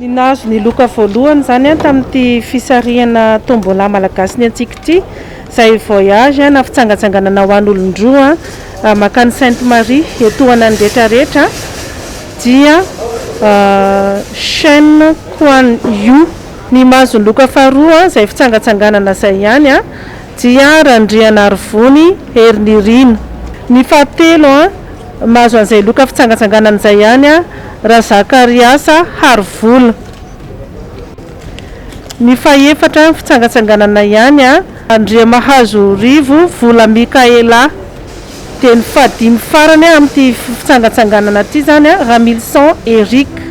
Ny nahazo ny loka voalohany izany tamin'ity fisarihana Tombola Malagasy Ny Antsika ity, izay voyage na fitsangatsanganana ho an'olon-droa mankany Sainte Marie etohanan'ny rehetra rehetra, dia Chen Kuan Yu. Ny mahazo ny loka faharoa izay fitsangatsanganana izay ihany dia Randrianarivony Herinirina. Ny fahatelo. Mahazo an'izay loka fitsangatsanganana izay ihany an Razakariasa Harivola. Ny fahefatra ny fitsangatsanganana ihany an. Andriamahazo Rivo Vola Mikaela. Dia ny fahadimy farany amin'ity fitsangatsanganana ity izany an Ramilison Eric.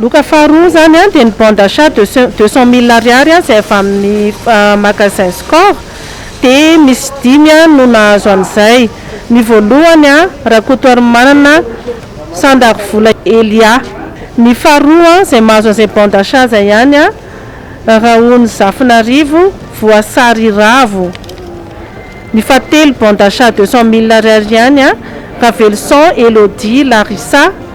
Loka faharoa izany dia ny bon d'achat de deux cent mille ariary izay avy amin'ny magasin Score dia misy dimy no nahazo an'izay. Ny voalohany, Rakotoarimanana Sandarivola Elia. Ny faharoa izay mahazo an'izay bon d'achat izay ihany, Raonizafinarivo Voasary Ravo. Ny fahatelo bon d'achat deux cent mille ariary ihany, Raveloson Elodie Larissa.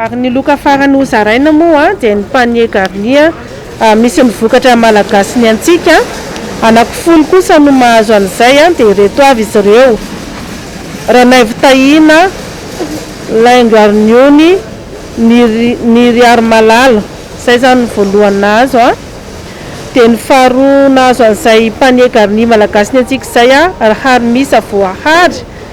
Ary ny loka farany hozaraina moa dia ny panier garni misy ny vokatra malagasy ny antsika, anaky folo kosa no mahazo an'izay dia ireto avy izy ireo, Ranaivo Tahina, laingo arniony, niriarimalala, izay izany ny voalohany nahazo, dia ny faharoa nahazo an'izay panier garni malagasy ny antsika izay ry harimisa voahary,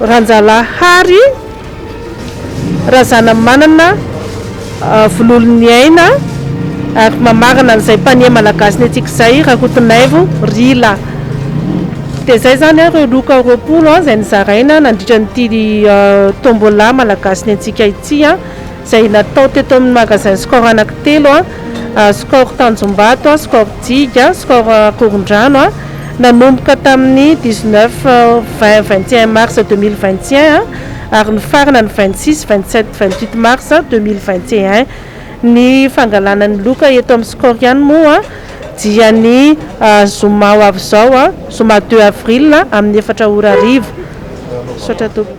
Ranjalahy Hary Razanamanana Vololoniaina ary mamarana an'izay mpanie malagasy netsika izay Rakotonaivo Rila. Dia izay izany ireo loka roapolo izay nozaraina nandritra an'ity Tombola malagasy nentsika ity. izay natao teto amin'ny Magasin Score anankitelo, Score Tanjombato, Score Digue, Score Ankorondrano, nanomboka tamin'ny dix neuf, vingt, vingt et un mars deux mille vingt et un ary nifarana ny vingt six, vingt sept, vingt huit mars deux mille vingt et un. Ny fangalana ny loka eto amin'ny Score ihany moa dia ny zoma ho avy izao, zoma deux avril amin'ny efatra ora hariva. Misaotra tompoko.